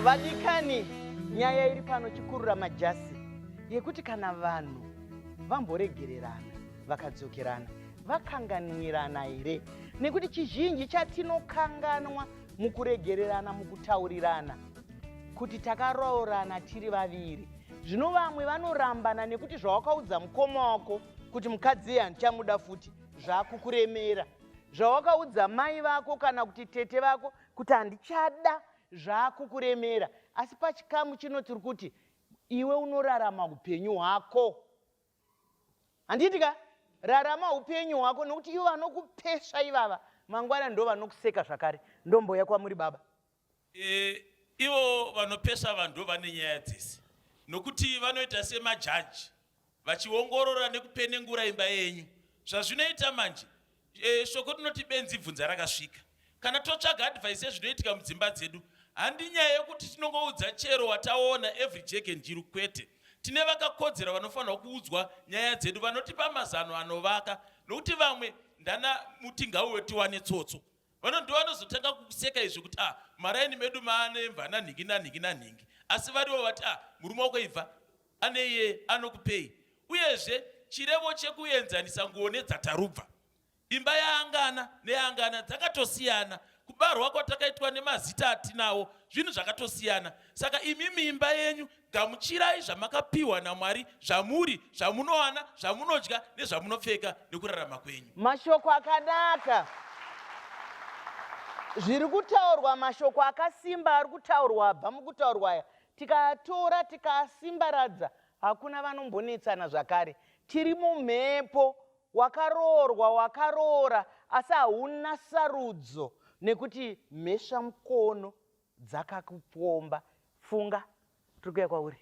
vadikani nyaya iri pano chikurura majasi yekuti kana vanhu vamboregererana vakadzokerana vakanganwirana here nekuti chizhinji chatinokanganwa mukuregererana mukutaurirana kuti takaroorana tiri vaviri zvino vamwe vanorambana nekuti zvawakaudza mukoma wako kuti mukadzi iye handichamuda futi zvakukuremera zvawakaudza mai vako kana kuti tete vako kuti handichada zvakukuremera asi pachikamu chino tiri kuti iwe unorarama upenyu hwako handiti ka rarama upenyu hwako nokuti ivo vanokupesva ivava mangwana ndo vanokuseka zvakare ndomboya kwamuri baba e, ivo vanopesva vanhu ndo vane nyaya dzese nokuti vanoita semajaji vachiongorora nekupenengura imba yenyu zvazvinoita manje E, shoko rinoti benzi bvunza rakasvika. Kana totsvaga advice yezvinoitika mudzimba dzedu, handi nyaya yekuti tinongoudza chero wataona every jack and jiru kwete. Tine vakakodzera vanofanirwa kuudzwa nyaya dzedu vanotipa mazano anovaka nokuti vamwe ndana mutingau wetiwane tsotso vano ndivanozotanga kukuseka izvi kuti ah maraini medu maane mvana nhingi nanhingi nanhingi asi varivo vati ah murume wako ibva Ane iye anokupei. Uyezve, chirevo chekuenzanisa nguo nedzatarubva, imba yaangana neyaangana dzakatosiyana, kubarwa kwatakaitwa nemazita atinawo, zvinhu zvakatosiyana. Saka imimi imba yenyu, gamuchirai zvamakapiwa naMwari zvamuri, zvamunowana, zvamunodya nezvamunopfeka nekurarama kwenyu. Mashoko akanaka. Zviri kutaurwa mashoko akasimba ari kutaurwa abva mukutaurwa aya Tikaatora tikaasimbaradza hakuna vanombonetsana zvakare. Tiri mumhepo, wakaroorwa wakaroora asi hauna sarudzo nekuti mhesva mukono dzakakupomba. Funga, tiri kuuya kwauri.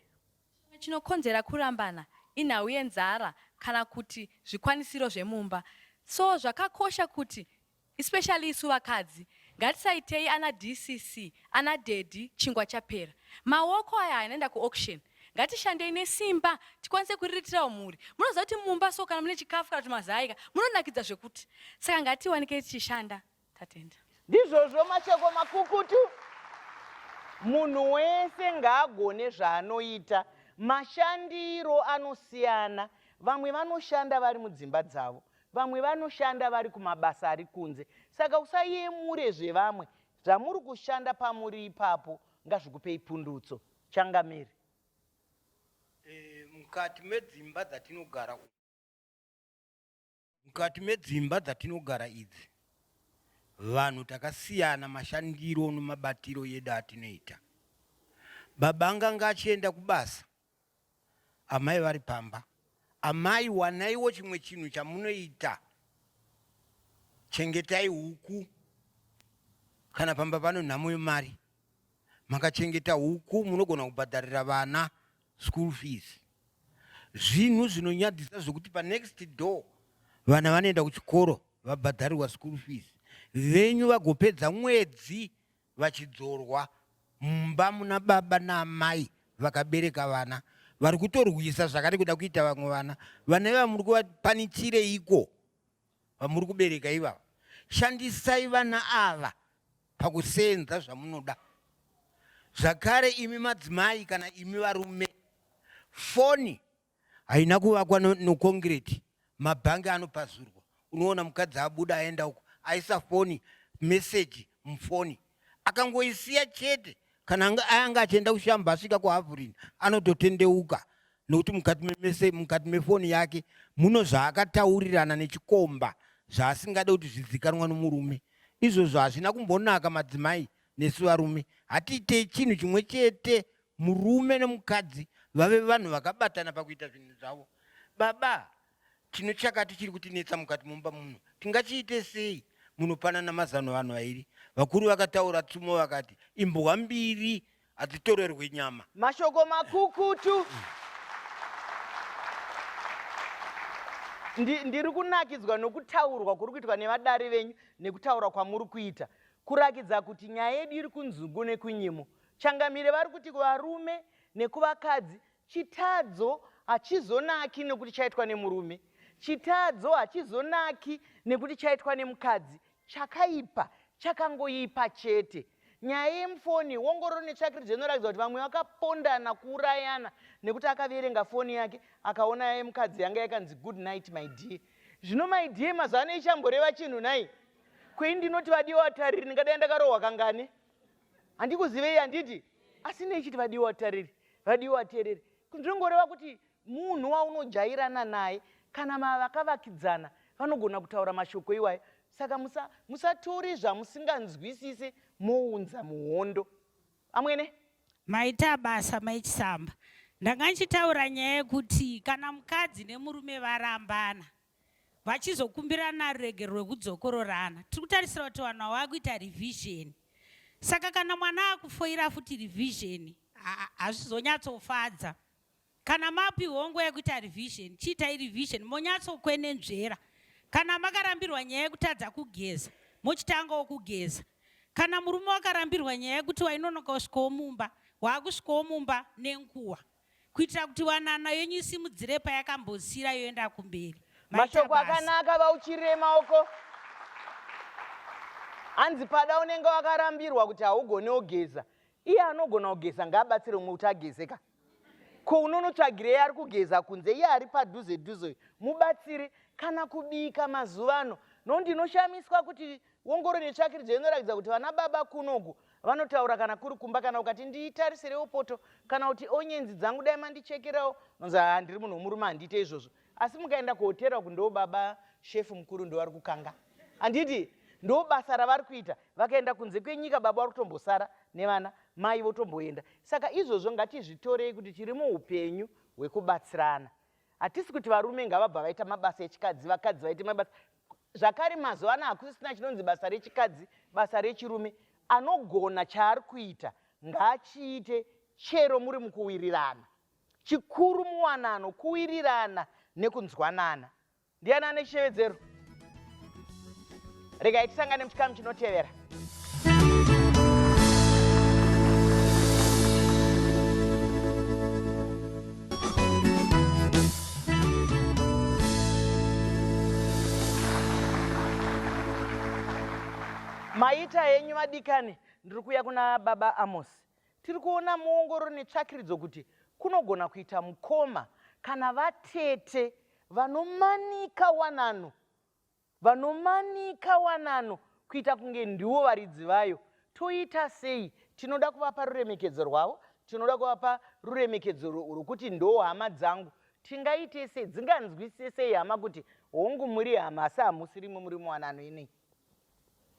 Chimwe chinokonzera kurambana inhau yenzara kana kuti zvikwanisiro zvemumba. So zvakakosha kuti Especially isu vakadzi ngatisaitei ana DCC ana daddy chingwa chapera. Maoko aya anoenda ku auction. Ngatishandei nesimba tikwanise kuriritirawo mhuri. Munoziva kuti mumba so kana mune chikafu kana kuti mazai ka munonakidza zvekuti. Saka ngatiwanikei tichishanda. Tatenda. Ndizvozvo mashoko makukutu munhu wese ngaagone zvaanoita mashandiro anosiyana vamwe vanoshanda vari mudzimba dzavo Vamwe vanoshanda vari kumabasa ari kunze saka usayemure zvevamwe zvamuri kushanda pamuri ipapo ngazvikupei pundutso. Changamire. Eh, mukati medzimba dzatinogara mukati medzimba dzatinogara idzi vanhu takasiyana mashandiro nemabatiro edu atinoita. Baba nganga achienda kubasa Amai vari pamba. Amai wanaiwo chimwe chinhu chamunoita. Chengetai huku. Kana pamba pano nhamo yemari. Makachengeta huku munogona kubhadharira vana school fees. Zvinhu zvinonyadzisa zvekuti pa next door vana vanoenda kuchikoro vabhadharirwa school fees. Venyu vagopedza mwedzi vachidzorwa mumba muna baba naamai vakabereka vana vari kutorwisa zvakare kuda kuita vamwe vana vana ivava muri kuvapanitireiko vamuri kubereka ivava shandisai vana ava pakusenza zvamunoda zvakare imi madzimai kana imi varume foni Haina kuvakwa nokongireti, mabhangi anopazurwa. Unoona mukadzi abuda aenda uko, aisa foni, meseji mufoni, akangoisiya chete. Kana anga achienda kushamba asvika kuhavurini anototendeuka nokuti mukati memese mukati mefoni yake muno zvaakataurirana nechikomba zvaasingade kuti zvizikanwa nomurume. Izvozvo hazvina kumbonaka madzimai nesu varume hatiitei chinhu chimwe chete Murume nemukadzi vave vanhu vakabatana pakuita zvinhu zvavo. Baba, tine chakati chiri kutinetsa mukati mumba muno. Tingachiite sei? Munopanana mazano vanhu vairi. Vakuru vakataura tsumo vakati, Imbwa mbiri hadzitorerwe nyama. Mashoko makukutu. Ndi, ndiri kunakidzwa nokutaurwa kuri kuitwa nevadare venyu nekutaura kwamuri kuita kurakidza kuti nyaya yedu iri kunzungu nekunyimo Changamire vari kuti kuvarume nekuvakadzi chitadzo hachizonaki nekuti chaitwa nemurume, chitadzo hachizonaki nekuti chaitwa nemukadzi, chakaipa chakangoipa chete. Nyaya yemufoni, ongororo netsvakirudzo inoratidza kuti vamwe vakapondana kuurayana nekuti akaverenga foni yake akaona yemukadzi yanga yakanzi good night my dear. Zvino my dear mazuva ano ichamboreva chinhu nhai? Kwei ndinoti vadiwa tariri ndingadai ndakarohwa kangani? handikuzivei handiti asi nei chiti vadiwa vatariri vadiwa vateereri zvinongoreva kuti munhu waunojairana naye kana mavakavakidzana vanogona kutaura mashoko iwayo saka musatori musa zvamusinganzwisise mounza muhondo amwene maita basa maichisamba ndanga ndichitaura nyaya yekuti kana mukadzi nemurume varambana vachizokumbirana ruregerero rwekudzokororana tiri kutarisira kuti vanhu ava vakuita revisioni saka kana mwana akufoira futi revisioni hazvizonyatsofadza kana mapihwo nguva yekuita revisioni chiitai revisioni monyatsokwenenzvera kana makarambirwa nyaya yekutadza kugeza mochitangawo kugeza kana murume wakarambirwa nyaya yekuti wainonoka kusvikawo mumba waakusvikawo mumba nenguva kuitira kuti wanano yenyu isimudzire payakambosira yoenda kumberi mashoko akanaka vauchirire maoko hanzi pada unenge wakarambirwa kuti haugone ogeza iye anogona kugeza ngaabatsire umwe kuti ageze ka ko unonotsvagirei ari kugeza kunze iye ari padhuze dhuze mubatsiri kana kubika mazuva ano no ndinoshamiswa kuti Wongoro netsvakiridzo inorakidza kuti vana baba kunoku vanotaura kana kuri kumba kana ukati ndiitarisirewo poto kana kuti onyenzi dzangu dai mandichekerawo nonzi haa ndiri munhu womurume handiite izvozvo asi mukaenda kuhotera uku ndoo baba shefu mukuru ndovari kukanga handiti ndo basa ravari kuita vakaenda kunze kwenyika baba vari kutombosara nevana mai votomboenda saka izvozvo ngatizvitorei kuti tiri muupenyu hwekubatsirana hatisi kuti varume ngavabva vaita mabasa echikadzi vakadzi vaite mabasa Zvakare mazuva ano hakusisina chinonzi basa rechikadzi, basa rechirume. Anogona chaari kuita ngaachiite chero muri mukuwirirana. Chikuru muwanano, kuwirirana nekunzwanana. Ndiani ane chishevedzero? Regai tisangane muchikamu chinotevera. maita henyu vadikani ndiri kuuya kuna baba amosi tiri kuona muongororo netsvakiridzo kuti kunogona kuita mukoma kana vatete vanomanika wanano Vanomanika wanano kuita kunge ndiwo varidzi vayo. Toita sei? Tinoda kuvapa ruremekedzo rwavo. Tinoda kuvapa ruremekedzo rwokuti ndoo hama dzangu. Tingaite sei? Dzinganzwisise sei hama kuti hongu muri hama asi hamusi rimwe muri muwanano inei?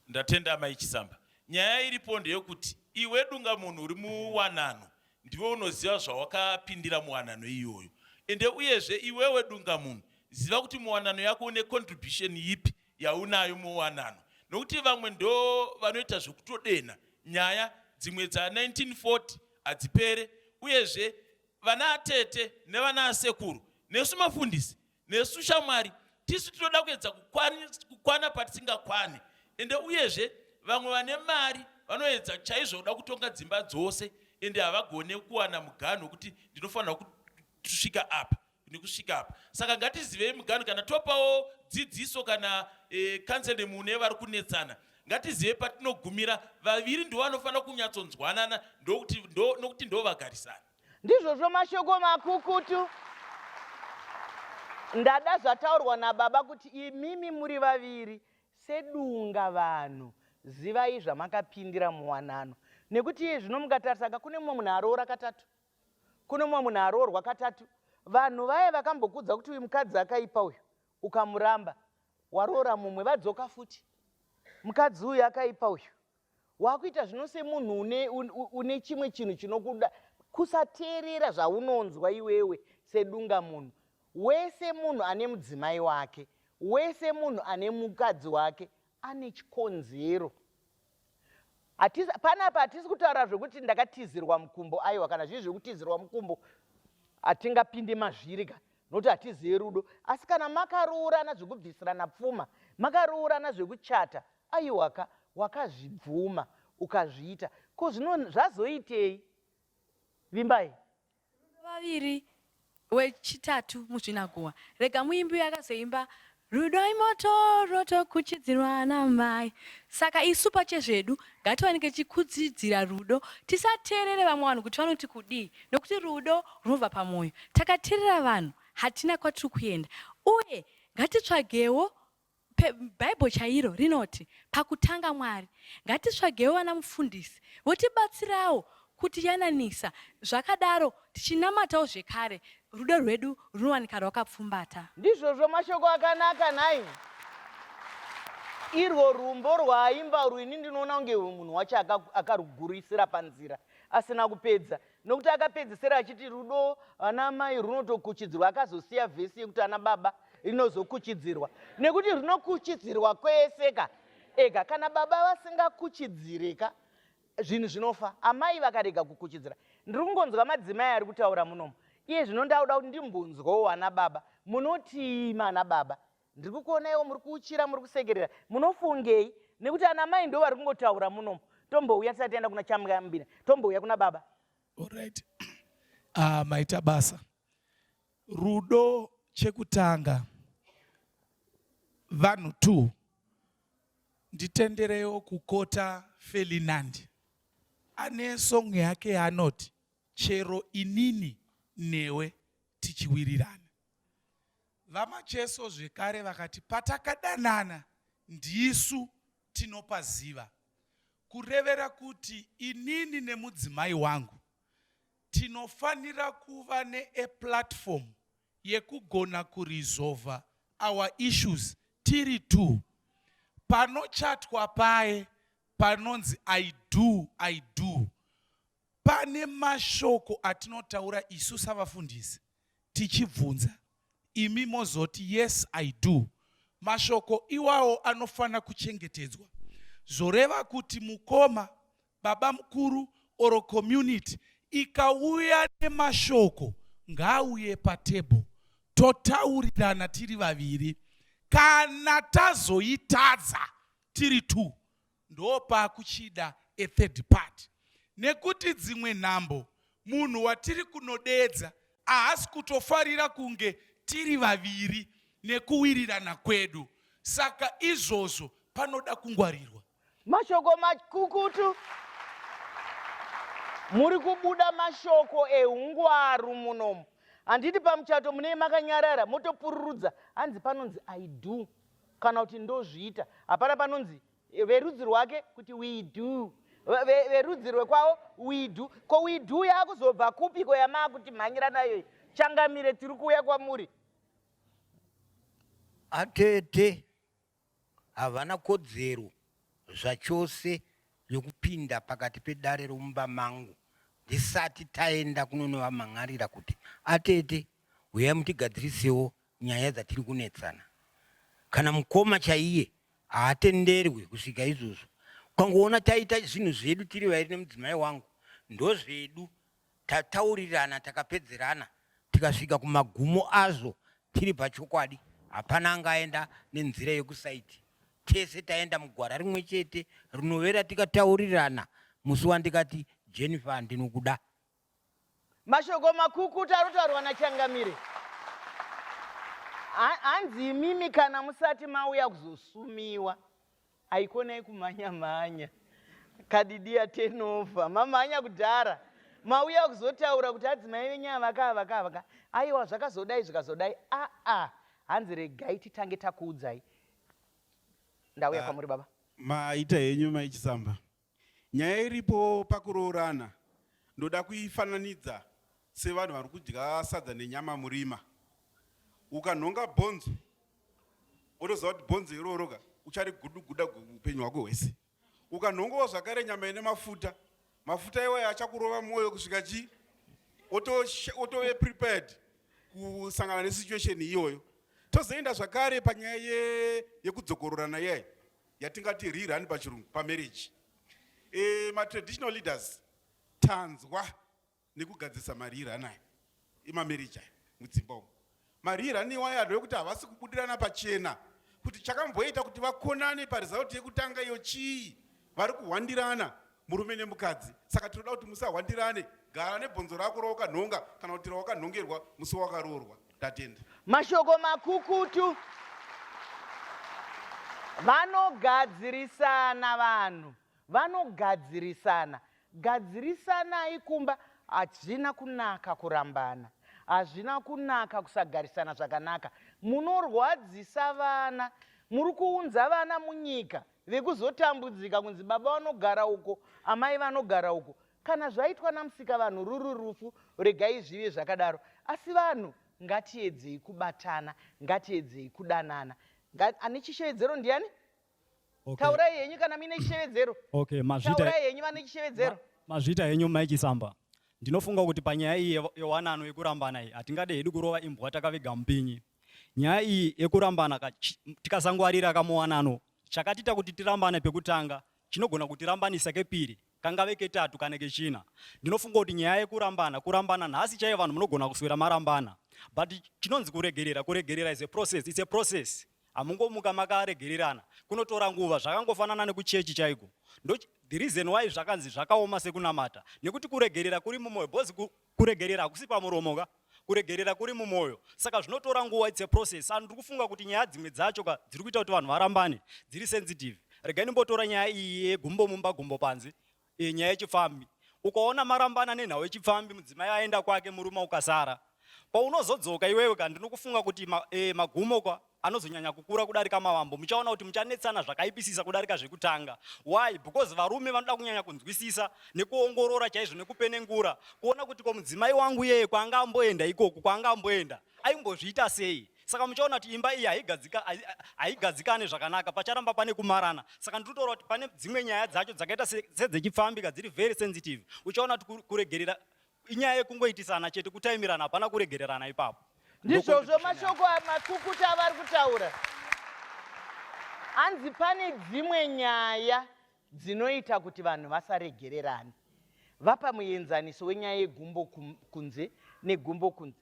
Ndatenda Amai Chisamba. Nyaya iripo ndeyokuti iwe dunga munhu uri muwanano Ndiwe unoziva zvawakapindira muwanano iyoyo. Ende uyezve iwewe dunga munhu ziva kuti muwanano yako une contribution yipi yaunayo muwanano. Nokuti vamwe ndo vanoita zvekutodenha nyaya dzimwe dza 1940 hadzipere uyezve vana atete nevana asekuru nesu mafundisi Nesu shamwari tisu tinoda kuedza kukwana patisingakwane ende uyezve vamwe vane mari vanoedza chaizvo kuda kutonga dzimba dzose ende havagone kuwana muganhu wekuti ndinofanira kusvika apa nekusvika apa saka ngatizivei muganhu kana topawo dzidziso kana e, counseling mune vari kunetsana ngatizive patinogumira vaviri ndovanofanira kunyatsonzwanana ndokuti ndo, nokuti ndovagarisana Ndizvozvo mashoko makukutu. Ndada zvataurwa nababa kuti imimi muri vaviri sedunga vanhu zivai zvamakapindira muwanano nekuti iye zvino mukatarisaka kune mumwe munhu aroora katatu kune mumwe munhu aroorwa katatu vanhu vaye vakambokudza kuti uyu mukadzi akaipa uyu ukamuramba waroora mumwe vadzoka futi mukadzi uyu akaipa uyu wakuita zvino semunhu une, une, une chimwe chinhu chinokuda kusateerera zvaunonzwa iwewe sedunga munhu wese munhu ane mudzimai wake wese munhu ane mukadzi wake ane chikonzero panapa hatisi kutaura zvekuti ndakatizirwa mukumbo aiwa kana zvii zvekutizirwa mukumbo hatingapinde mazviri ka nokuti hatizivi rudo asi kana makaroorana zvekubvisirana pfuma makaroorana zvekuchata aiwaka wakazvibvuma ukazviita ko zvino zvazoitei vimbai vaviri wechitatu muzvinaguwa rega muimbi uyo akazoimba Rudo imoto rotokuchidzirwa namai saka isu pachezvedu ngatiwanike tichikuchidzira rudo tisateerere vamwe vanhu kuti vanoti kudii nokuti rudo runobva pamwoyo takateerera vanhu hatina kwatiri kuenda uye ngatitsvagewo bhaibho chairo rinoti pakutanga mwari ngatitsvagewo vana mufundisi votibatsirawo Kutiyananisa, zvakadaro, tichinamatawo zvekare, rudo rwedu runowanika rwakapfumbata. Ndizvozvo mashoko akanaka nhai? Irwo rwumbo rwaaimba urwu ini ndinoona kunge munhu wacho akarugurisira panzira asina kupedza nokuti akapedzesera achiti rudo ana mai runotokuchidzirwa akazosiya vhesi yekuti ana baba rinozokuchidzirwa nekuti runokuchidzirwa kwese ka ega kana baba vasingakuchidzire ka zvinhu zvinofa amai vakarega kukuchidzira ndiri kungonzwa madzimai ari kutaura munomu iye zvino ndauda kuti ndimbunzwawo vana baba munotii mana baba ndiri kukuonaiwo muri kuuchira muri kusekerera munofungei nekuti ana mai ndo vari kungotaura munomu tombouya tisati taenda kuna chamuyambina tombouya kuna baba orit uh, ah, maita basa rudo chekutanga vanhu two Nditenderewo kukota Felinandi ane song yake yaanoti chero inini newe tichiwirirana. VaMacheso zvekare vakati patakadanana ndisu tinopaziva kurevera kuti inini nemudzimai wangu Tinofanira kuva ne a platform yekugona kurizova our issues tiri two. Panochatwa paye panonzi I do, I do. Pane mashoko atinotaura isu savafundisi tichibvunza imi mozoti yes I do. Mashoko iwawo anofanira kuchengetedzwa zvoreva kuti mukoma baba mukuru or community ikauya nemashoko ngaauye patable totaurirana tiri vaviri kana tazoitadza tiri two ndopakuchida a third party nekuti dzimwe nhambo munhu watiri kunodeedza ahasi kutofarira kunge tiri vaviri nekuwirirana kwedu saka izvozvo panoda kungwarirwa Mashoko makukutu. Muri kubuda mashoko ehungwaru munomu. Handiti pamuchato munei makanyarara motopururudza hanzi panonzi I do kana kuti ndozviita. Hapana panonzi verudzi rwake kuti we do verudzi rwekwavo we do ko we do yakuzobva kupi ko yamaakuti mhanyira nayo changamire tiri kuuya kwamuri atete Havana kodzero zvachose yokupinda pakati pedare romumba mangu ndisati taenda kunonovamhan'arira kuti, Atete, huyai mutigadzirisewo nyaya dzatiri kunetsana. Kana mukoma chaiye haatenderwi kusvika izvozvo. Ukangoona taita zvinhu zvedu tiri vairi nemudzimai wangu, ndozvedu tataurirana takapedzerana tikasvika kumagumo azvo tiri pachokwadi hapana angaenda nenzira yekusaiti tese taenda mugwara rimwe chete rinovera tikataurirana musi wandikati jennifer ndinokuda mashoko makukuta anotaurwa nachangamire hanzi imimi kana musati mauya kuzosumiwa Haikonai kumhanya mhanya. Kadidia tenova. Mamhanya kudhara. Mauya kuzotaura kuti adzimai venyu avaka avaka avaka. Aiwa zvakazodai zvikazodai. Ah ah. Hanzi regai titange takuudzai. Ndauya ah, kwamuri baba. Maita henyu mai Chisamba. Nyaya iripo pakuroorana ndoda kuifananidza sevanhu vari kudya sadza nenyama murima. Ukanhonga bhonzo wotoziva kuti bhonzo iroroka uchariguduguda upenyu hwako hwese. Ukanhongawo zvakare nyama ine mafuta, mafuta iwayo achakurova mwoyo kusvika chii otove prepared kusangana nesituation iyoyo tozoenda zvakare panyaya yekudzokororana iyayi yatingati riri hani pachirungu pamarriage e, matraditional leaders tanzwa nekugadzirisa mariri anayo emamarriage ayo mudzimba umo mariri aniwayo anhu vekuti havasi kubudirana pachena kuti chakamboita kuti vakonane parizauti yekutanga iyo chii vari kuhwandirana murume nemukadzi saka tinoda kuti musahwandirane gara nebhonzo rako rawakanhonga kana kuti rawakanhongerwa musi wakaroorwa ndatenda mashoko makukutu vanogadzirisana vanhu vanogadzirisana gadzirisanai kumba hazvina kunaka kurambana hazvina kunaka kusagarisana zvakanaka munorwadzisa vana muri kuunza vana munyika vekuzotambudzika kunzi baba vanogara uko amai vanogara uko kana zvaitwa namusika vanhu ruri rufu regai zvive zvakadaro asi vanhu ngatiedzei kubatana ngatiedzei kudanana ane chishevedzero ndiani okay. taurai henyu kana muine chishevedzero okay, taurai henyu vane chishevedzero ma, mazvita henyu mike samba ndinofunga kuti panyaya iyi yewanano yekurambana iyi hatingade hedu kurova imbwa takaviga mupinyi Nyaya iyi yekurambana ka tikasangwarira kamuwanano chakatiita kuti tirambane pekutanga chinogona kutirambanisa kepiri kangave ketatu kana kechina. Ndinofunga kuti nyaya yekurambana kurambana nhasi chaiye vanhu munogona kuswera marambana but chinonzi kuregerera kuregerera is a process it's a process hamungomuka makaregererana kunotora nguva zvakangofanana nekuchechi chaiko ndo the reason why zvakanzi zvakaoma sekunamata nekuti kuregerera kuri mumoyo bhozi Kuregerera hakusi pamuromo ka? Kuregerera kuri mumoyo. Saka zvinotora nguva, it's a process. Saka ndiri kufunga kuti nyaya dzimwe dzacho ka dziri kuita kuti vanhu varambane dziri sensitive. Regai ndimbotora nyaya iyi yegumbo mumba gumbo panze, e, nyaya yechipfambi. Ukaona marambana nenhau yechipfambi, mudzimai aenda kwake, murume ukasara. Paunozodzoka iwewe ka ndinokufunga kuti ma, e, magumo ka anozonyanya kukura kudarika mavambo muchaona kuti muchanetsana zvakaipisisa kudarika zvekutanga why because varume vanoda kunyanya kunzwisisa nekuongorora chaizvo nekupenengura kuona kuti ko mudzimai wangu yeye kwaanga amboenda ikoku kwaanga amboenda aimbozviita sei saka muchaona kuti imba iyi haigadzikane zvakanaka pacharamba pane kumarana saka ndiri kutaura kuti pane dzimwe nyaya dzacho dzakaita sedzechipfambika dziri very sensitive uchaona kuti kuregerera inyaya yekungoitisana chete kutaimirana hapana kuregererana ipapo ndizvozvo mashoko makukuta avari kutaura hanzi pane dzimwe nyaya dzinoita kuti vanhu vasaregererane vapa muenzaniso wenyaya yegumbo kunze negumbo kunze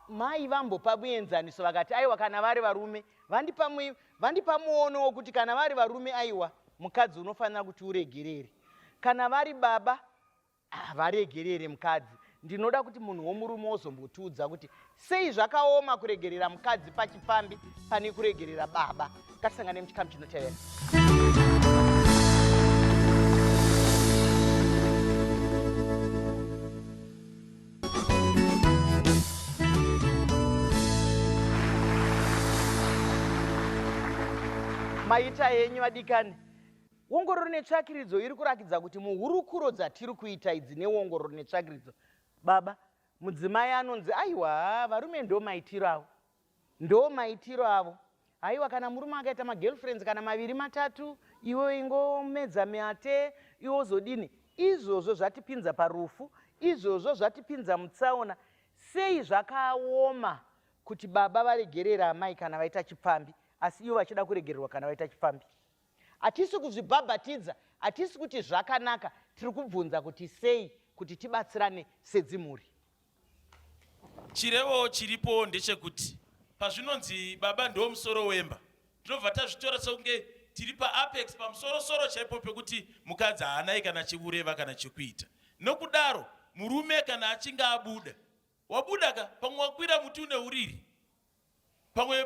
mai vambopa muenzaniso vakati aiwa kana vari varume vandipa muono wokuti kana vari varume aiwa mukadzi unofanira kuti uregerere kana vari baba havaregerere mukadzi ndinoda kuti munhu womurume wozombotiudza kuti sei zvakaoma kuregerera mukadzi pachipfambi pane kuregerera baba ngatisangane muchikamu chinotevera maita henyu vadikani Ongororo netsvakiridzo iri kurakidza kuti muhurukuro dzatiri kuita idzi neongororo netsvakiridzo, baba, mudzimai anonzi aiwa varume ndo maitiro avo. Ndo maitiro avo. Haiwa kana murume akaita magirlfriends kana maviri matatu, iwe ingomedza mate, iwe ozodini? Izvozvo zvatipinza parufu, izvozvo zvatipinza mutsaona. Sei zvakaoma kuti baba varegerere amai kana vaita chipfambi asi ivo vachida kuregererwa kana vaita chipfambi? Hatisi kuzvibhabhatidza, hatisi kuti zvakanaka, tiri kubvunza kuti sei kuti tibatsirane sedzimhuri. Chirevo chiripo ndechekuti pazvinonzi baba ndiwo musoro wemba, tinobva tazvitora sekunge tiri paapex pamusorosoro chaipo pekuti mukadzi haanai kana chikureva kana chekuita. Nokudaro murume kana achinge abuda, wabuda ka, pamwe wakwira muti une uriri. pamwe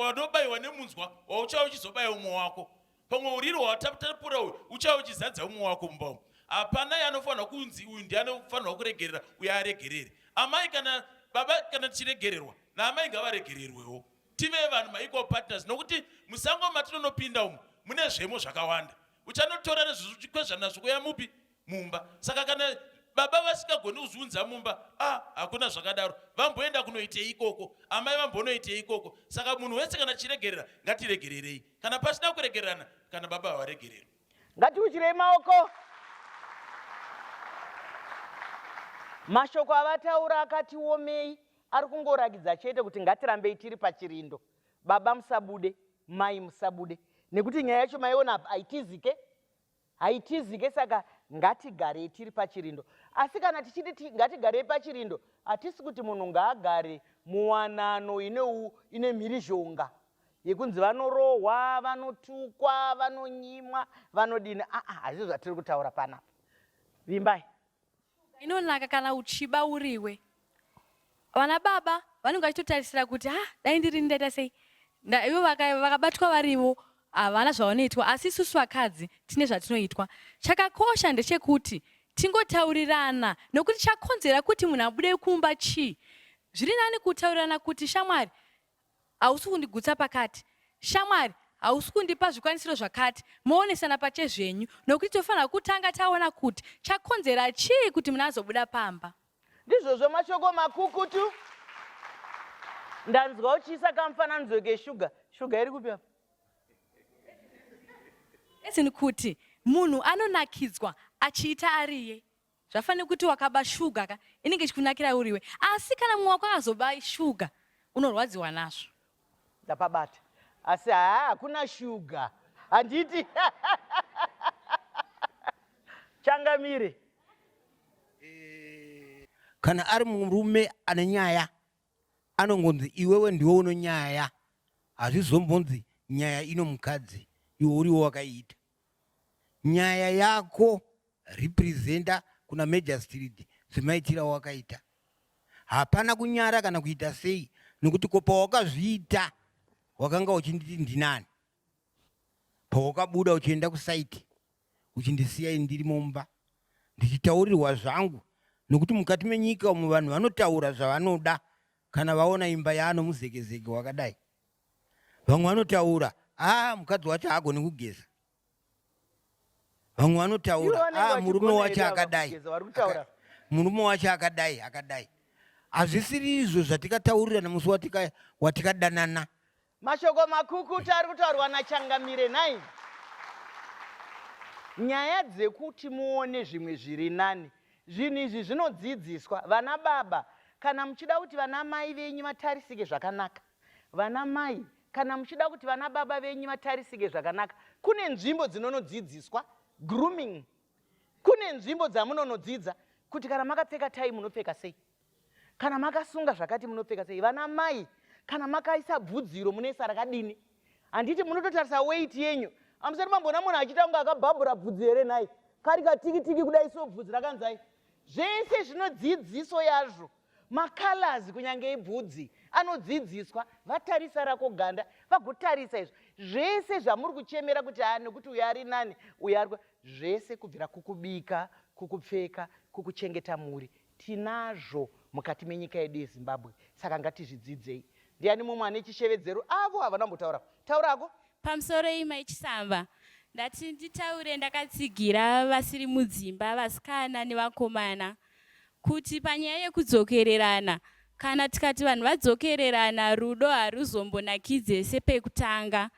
wanobaiwa nemunzwa wauchava uchizobaya umwe wako pamwe uriro hwatapura uyu uchava uchizadza umwe wako mumba umu hapana yanofanirwa kunzi uyu ndiye anofanirwa kuregerera uye aregerere amai kana baba kana tichiregererwa naamai ngavaregererwewo tive vanhu maequal partners nokuti musango matinonopinda umu mune zvemo zvakawanda uchanotora nezvekukwezvanazvo kweya mupi mumba saka kana baba vasingagoni kuzviunza mumba a ah, hakuna zvakadaro vamboenda kunoitei ikoko amai vambonoitei ikoko saka munhu wese kana tichiregerera ngatiregererei kana pasina kuregererana kana baba havaregereri ngatiuchirei maoko mashoko avataura akatiomei ari kungorakidza chete kuti ngatirambei tiri pachirindo baba musabude mai musabude nekuti nyaya yacho maiona apa haitizike haitizike saka ngatigarei tiri pachirindo asi kana tichiti ngatigarei pachirindo hatisi kuti munhu ngaagare muwanano ineu ine mhirizhonga yekunzi vanorohwa vanotukwa vanonyimwa vanodini aa hazvii zvatiri kutaura panapa vimbai inonaka kana uchiba uriwe vana baba vanenge vachitotarisira kuti ha ah, dai ndirini ndaita sei ivo vakabatwa varivo havana zvavanoitwa asi isusu vakadzi tine zvatinoitwa chakakosha ndechekuti tingotaurirana nokuti chakonzera kuti munhu abude kumba chii zviri nani kutaurirana kuti shamwari Hausi kundigutsa pakati. Shamwari, hausi kundipa zvikwanisiro zvakati. Moonesana pachezvenyu nokuti tofanirwa kutanga taona kuti chakonzera chii kuti muna azobuda pamba. Ndizvozvo mashoko makukutu. Ndanzwa uchiisa kamufananidzo keshuga. Shuga iri kupi apa? As in kuti munhu anonakidzwa achiita ariye. Zvafane kuti wakaba shuga ka inenge ichikunakira uriwe asi kana mumwe wako akazoba shuga unorwadziwa nazvo. Ndapabata asi haa hakuna shuga handiti changamire. Kana ari murume ane nyaya anongonzi iwewe ndiwe uno nyaya hazvizombonzi nyaya ino mukadzi iwe uriwo wakaita. nyaya yako representer kuna magistrate zvemaitira wakaita hapana kunyara kana kuita sei nokuti ko pawakazviita wakanga uchinditi ndinani pawakabuda uchienda kusaiti uchindisiya ndiri mumba ndichitaurirwa zvangu nokuti mukati menyika umu vanhu vanotaura zvavanoda kana vaona imba yaano muzekezeke wakadai Vamwe vanotaura ah, mukadzi wacho haagoni kugeza. Vamwe vanotaura ah, murume wacho akadai, murume wacho akadai akadai. Hazvisiri izvo zvatikataurirana musi watikadanana. Mashoko makukuta ari kutaurwa naChangamire nhai? Nyaya dzekuti muone zvimwe zviri nani, zvinhu izvi zvinodzidziswa vana baba kana muchida kuti vana mai venyu vatarisike zvakanaka. Vana mai kana muchida kuti vana baba venyu vatarisike zvakanaka kune nzvimbo dzinonodzidziswa grooming kune nzvimbo dzamunonodzidza kuti kana makapfeka tai munopfeka sei kana makasunga zvakati munopfeka sei vana mai kana makaisa bvudziro munoisa rakadini handiti munototarisa weit yenyu amusati mamboona munhu achiita kunge akabhabhura bvudzi here nhai kari katikitiki kudai so bvudzi rakanzai zvese zvinodzidziso yazvo Macolors kunyange ibvudzi anodzidziswa vatarisa rako ganda vagotarisa izvo zvese zvamuri kuchemera kuti haa nekuti uyo ari nani uyo ari zvese kubvira kukubika kukupfeka kukuchengeta mhuri tinazvo mukati menyika yedu yezimbabwe saka ngatizvidzidzei ndiani mumwe ane chishevedzero avo havana kumbotaura taura hako pamusoro ima ichisamba ndati nditaure ndakatsigira vasiri mudzimba vasikana nevakomana kuti panyaya yekudzokererana kana tikati vanhu vadzokererana rudo haruzombonakidze sepekutanga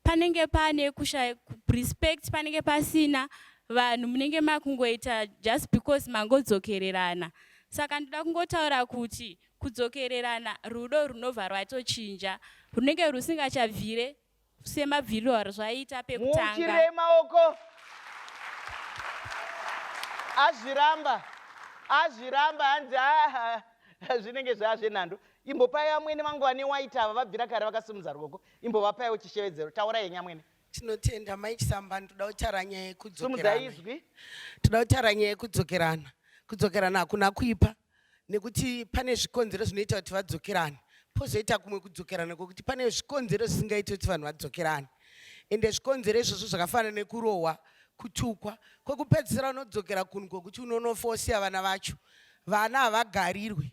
panenge pane kusha respect panenge pasina vanhu munenge makungoita just because mangodzokererana saka ndoda kungotaura kuti kudzokererana rudo runobva rwatochinja runenge rusingachabvire semabviriro arizvaita pekutanga muukirire maoko azviramba azviramba hanzi zvinenge zvaa zvenhando imbopai amwene vangu vane waiti ava vabvira kare vakasimudza ruoko imbovapaiwo chishevedzero taura yenyu amwene tinotenda mai chisambani toda kutaura nyaya yekudzokerana toda kutaura nyaya yekudzokerana kudzokerana hakuna kuipa nekuti pane zvikonzero zvinoita kuti vadzokerane pozoita kumwe kudzokerana kwekuti pane zvikonzero zvisingaiti kuti vanhu vadzokerane ende zvikonzero izvozvo zvakafanana nekurohwa kutukwa kwekupedzisira unodzokera kunhu kwokuti unonofa wosiya vana vacho vana havagarirwe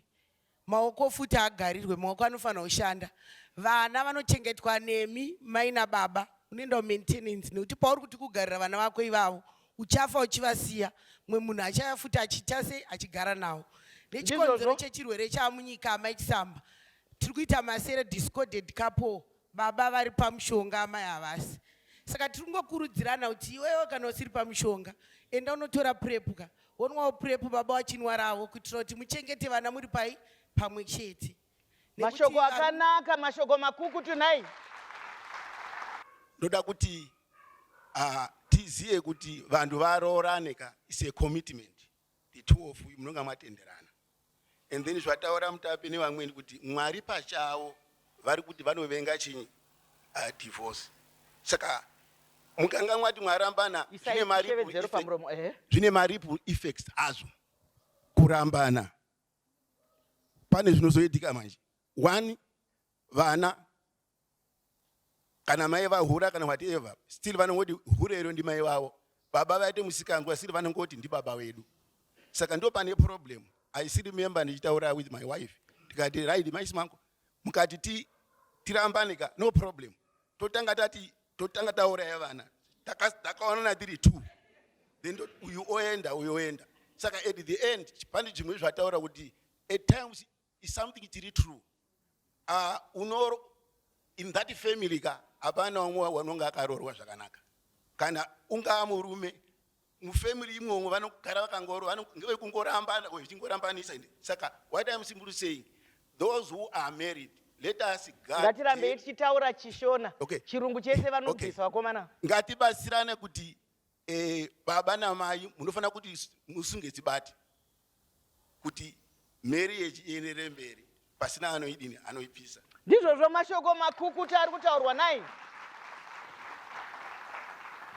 maoko futi agarirwe maoko anofanira kushanda vana vanochengetwa nemi mai nababa unoenda kumaintenance nekuti pauri kuti kugarira vana vako ivavo uchafa uchivasiya mwe munhu achaya futi achiita sei achigara nawo nechikonzero chechirwere chamunyika amai chisamba tiri kuita masere discorded couple baba vari pamushonga amai havasi saka tiri kungokurudzirana kuti iwewe kana usiri pamushonga enda unotora purepu ka wonwawo purepu baba wachinwaravo kuitira kuti muchengete vana muri pai pamwe chete mashoko akanaka mashoko makuku tunai ndoda kuti uh, tizive kuti vanhu varoorane ka is a commitment the two of you munonga matenderana and then zvataura mutapi nevamweni kuti mwari pachavo vari kuti vanovenga chinyi uh, divorce saka mukanga mwati mwarambana zvine mariple effects hazvo kurambana pane zvinozoitika manje one vana kana mai vahura kana whatever still vanongoti hure iro ndimai vavo baba vaite musikanzwa still vanongoti ndibaba wedu saka ndo pane problem i still remember ndichitaura with my wife tikati right maisi mangu mukati ti tirambane ka no problem totanga tati totanga tauraya vana takaonana tiri two then uyu oenda uyu oenda saka at the end pane zvimwe zvataura kuti at times is something chiri true uh, uno in that family ka hapana umwe wanonge akarorwa zvakanaka kana ungaa murume mufamily imomo vanogara vakangoro ngevekungorambana or zvichingorambanisa ende saka what im simply saying those who are married let us guard ngatirambei tichitaura chishona okay. chirungu chese vanobvisa okay. vakomana ngatibatsirane kuti eh, baba namai munofanira kuti musunge dzibati kuti marriage ienderere mberi pasina anoidini anoipisa ndizvozvo mashoko makukuta ari kutaurwa nai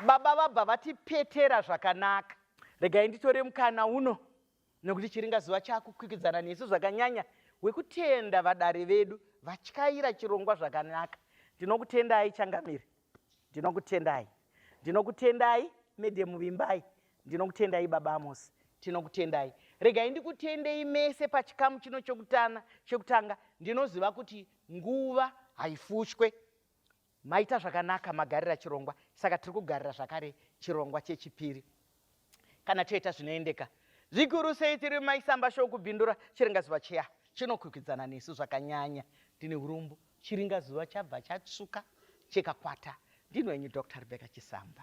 baba vabva vatipetera zvakanaka regai nditore mukana uno nekuti chiringazuva chaakukwikwidzana nesu zvakanyanya wekutenda vadare vedu vatyaira chirongwa zvakanaka ndinokutendai changamire ndinokutendai ndinokutendai medhemu vimbai ndinokutendai baba amosi tinokutendai regai ndikutendei mese pachikamu chino chokutana chokutanga ndinoziva kuti nguva haifushwe maita zvakanaka magarira chirongwa saka tiri kugarira zvakare chirongwa chechipiri kana toita zvinoendeka zvikuru sei tiri maisamba show kubhindura chiringazuva chiya chinokwikwidzana nesu zvakanyanya ndine urombo chiringazuva chabva chatsvuka chekakwata ndini wenyu dr rebecca chisamba